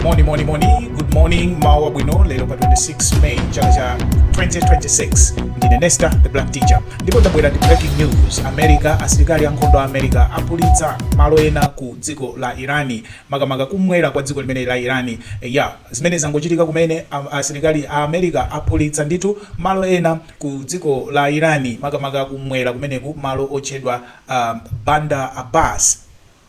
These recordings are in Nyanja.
moni moni moni good morning mmawa wabwino lero pa 26 may chaka cha 2026 ndine nesta the black teacher ndipo ndabwera ndi breaking news america asilikali ankhondo a america aphulitsa malo ena ku dziko la irani makamaka kumwera kwa dziko limeneli la irani eh, ya zimene zangochitika kumene a- asilikali a america aphulitsa ndithu malo ena ku dziko la irani makamaka kumwera kumeneku malo otchedwa um, bandar abbas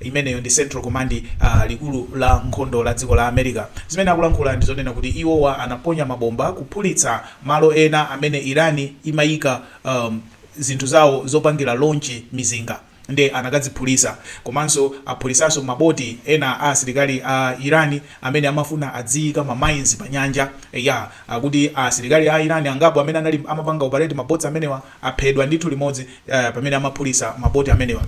Imeneyo ndi Central Command, a, likulu la nkhondo la dziko la America. Zimene akulankhula ndi zonena kuti iwowa anaponya mabomba kuphulitsa malo ena amene Iran imayika, um, zinthu zawo zopangira launch mizinga, nde anakaziphulitsa. Komanso aphulitsanso ma boti ena a asilikali a Iran amene amafuna adziyika ma mines pa nyanja. Eya, akuti a asilikali a Iran angapo amene anali, amapanga operate ma boti amenewa aphedwa ndithu limodzi, uh, pamene amaphulitsa ma boti amenewa.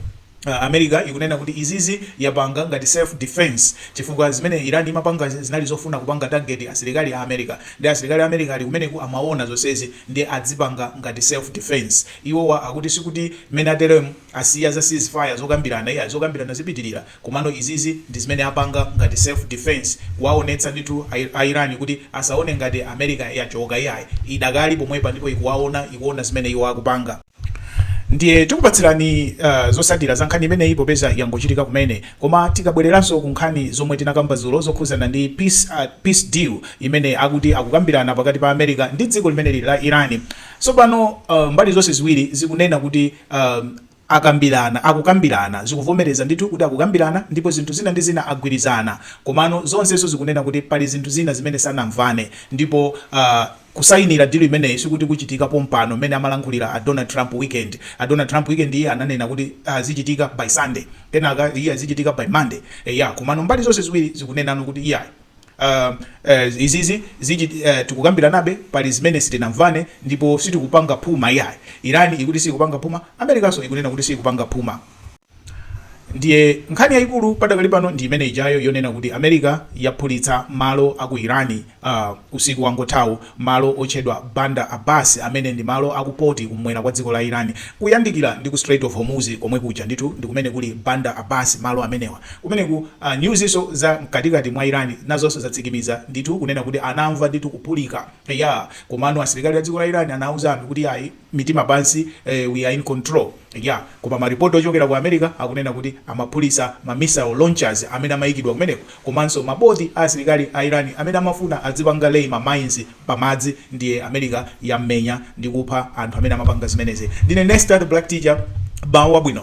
America ikunena kuti izizi yapanga ngati self defence chifukwa zimene Iran imapanga zinali zofuna kupanga target asilikali a America nde asilikali a America ali kumeneku amaona zonsezi nde azipanga ngati self defence iwowa akuti sikuti mmene ateremu asiya za cease fire zokambirana iyayi zokambirana zipitirira komano izizi ndizimene apanga ngati self defence kuwaonetsa ndithu a Iran kuti asaone ngati America yachoka iyayi idakali pomwepa ndipo ikuwaona ikuona zimene iwo akupanga. Ndiye tikupatsirani uh, zotsatira za nkhani imeneyi popeza yangochitika kumene, koma tikabwereranso ku nkhani zomwe tinakamba dzulo zokhudzana ndi peace, uh, peace deal imene akuti akukambirana pakati pa America ndi dziko limeneli la Iran. Tsopano uh, mbali zonse ziwiri zikunena kuti uh, akambirana akukambirana zikuvomereza ndithu kuti akukambirana ndipo zinthu zina ndi zina agwirizana, komano zonsezo zikunena kuti pali zinthu zina zimene sanamvane ndipo uh, Kusayinira deal imeneyi sikuti kuchitika pompano mmene amalankhulira a Donald Trump weekend a Donald Trump weekend yi iye ananena kuti zichitika by Sunday kenaka iye zichitika by Monday eya komano mbali zonse ziwiri zikunenano kuti iyayi uhm izizi zichit tikukambiranabe pali zimene sitinamvane ndipo sitikupanga phuma iyayi Iran ikuti siyikupanga phuma Americanso ikunena kuti siyikupanga phuma Ndiye nkhani yaikulu padakali pano ndi imene ijayo yonena kuti America yaphulitsa malo a ku Iran uh, usiku wangothawu, malo otchedwa Bandar Abbas amene ndi malo a ku poti kum'mwera kwa dziko la Iran kuyandikira ndi ku Strait of Hormuz komwe kuja ndithu ndi kumene kuli Bandar Abbas malo amenewa kumeneku. Uh, newsnso za mkatikati mwa Iran nazonso zatsikimiza ndithu kunena kuti anamva ndithu kuphulika eya, komano asilikali a dziko la Iran anauza anthu kuti ayi mitima pansi we are in control yeah koma ma report ochokera ku America akunena kuti amaphulitsa ma missile launchers amene amayikidwa kumeneko komanso ma boti a asilikali a Iran amene amafuna adzipanga lay ma mines pa madzi ndiye America yammenya ndi kupha anthu amene amapanga zimenezi ndine Nesta the Black Teacher mmawa wabwino.